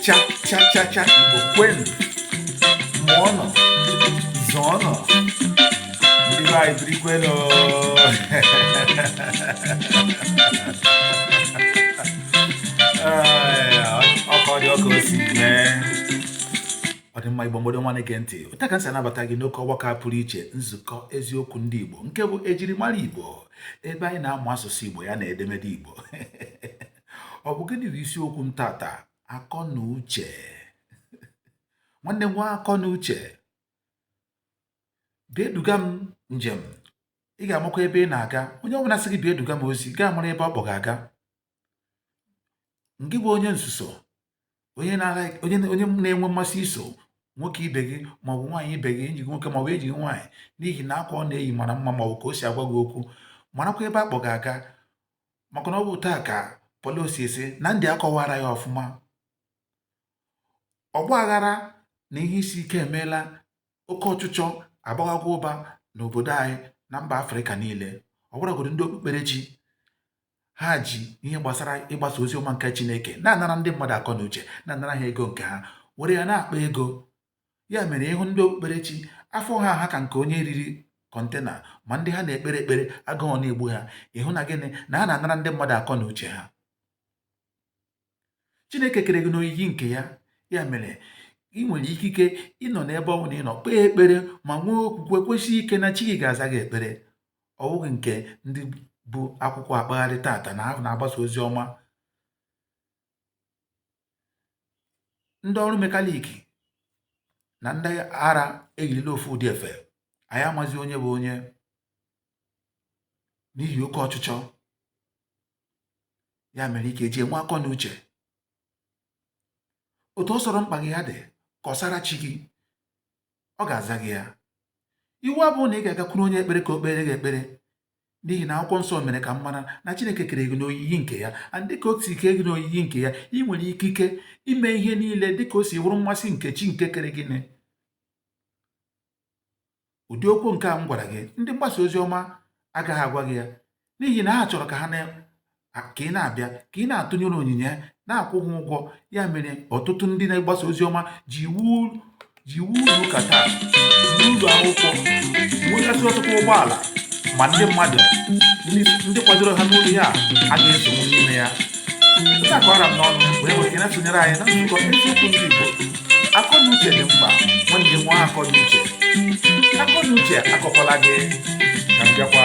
cha cha cha cha igbo kwenu mụọnụ zụọnụ ndị be anyị birikwenu ọkọ dị ọka osi mee ọdịmma igbo mgbado nwa na-ege ntị otu a ka m si anabata gị n'oke ọgbakọ pụrụ iche nzukọ eziokwu ndị igbo nke bụ ejirimara igbo ebe anyị na-amụ asụsụ Igbo ya na edemede Igbo ọ bụ gịnị bụ isiokwu m tata akọ na uche nwanne nwee akọ na uche bịa duga m njem ị ga-amakwa ebe ị na-aga onye ọbụla sị gị bịa duga m ozi gị amara ebe ọ kpọ gị aga ngị bụ onye nzuzu onye na-enwe mmasị iso nwoke ibe gị maọbụ nwaanyị ibe gị enyi gị nwoke maọbụ enyi gị nwaanyị n'ihi na akwa ọ na-eyi mara mma maọbụ ka o si agwa gị okwu marakwa ebe a kpọ gị aga maka na ọ bụ taa ka pọlọsi esi na ndị akọwara ya ọfụma ọgba aghara na ihe isi ike emeela oke ọchịchọ agbaghago ụba n'obodo anyị na mba afrịka niile ọ bụrụgodị ndị okpukperechi ha ji ihe gbasara ịgbasa ozi ọma nke Chineke na-anara ndị mmadụ akọ na uche na-anara ha ego nke ha were ya na-akpa ego ya mere ị hụ ndị okpukperechi afọ ha aha ka nke onye riri kọntena ma ndị ha na-ekpere ekpere agụụ na-egbu ha ị hụ na gịnị na ha na-anara ndị mmadụ akọ na uche ha chineke kere gị n'oyiyi nke ya ya mere ị nwere ikike ịnọ n'ebe ọwụna ị nọ kpee ekpere ma nwee okwukwe kwesị ike na chi gị ga-aza gị ekpere ọ bụghị nke ndị bu akwụkwọ akpagharị tata na ha na-agbasa ozi ọma ndị ọrụ mekaniki na ndị ara eyirila ofu ụdị efe anyị amazi onye bụ onye n'ihi oke ọchịchọ ya mere ị ga-eji enwe akọ na uche otu ọ sọrọ mkpa gị ya dị kọsara chi gị ọ ga-aza gị ya iwu abụghị na ị ga-agakwuru onye ekpere ka o kpeere gị ekpere n'ihi na akwụkwọ nsọ mere ka m mara na chineke kere gị n'oyiyi nke ya and dịka o si kee gị n'oyiyi nke ya ị nwere ikike ime ihe niile dịka o si wụrụ mmasị nke chi nke kere gị ụdị okwu nke a m gwara gị ndị mgbasa ozi ọma agaghị agwa gị ya n'ihi na ha chọrọ ka ha ka ị na-abịa ka ị na-atụnyere onyinye na-akwụ ha ụgwọ ya mere ọtụtụ ndị na-agbasa ozi ọma ji ewu ji ewu ụlọ ụka taa na ụlọ akwụkwọ nwegasị ọtụtụ ụgbọala ma ndị mmadụ ndị kwadoro ha n'ụlọ ya agaghị esonwu n'ime ya nke a kọrọ m n'ọnụ wee were na-esonyere anyị na nzukọ eziokwu ndị Igbo akọ na uche dị mkpa nwanne nwee akọ na uche akọ na uche akọkwala gị ka m bịakwa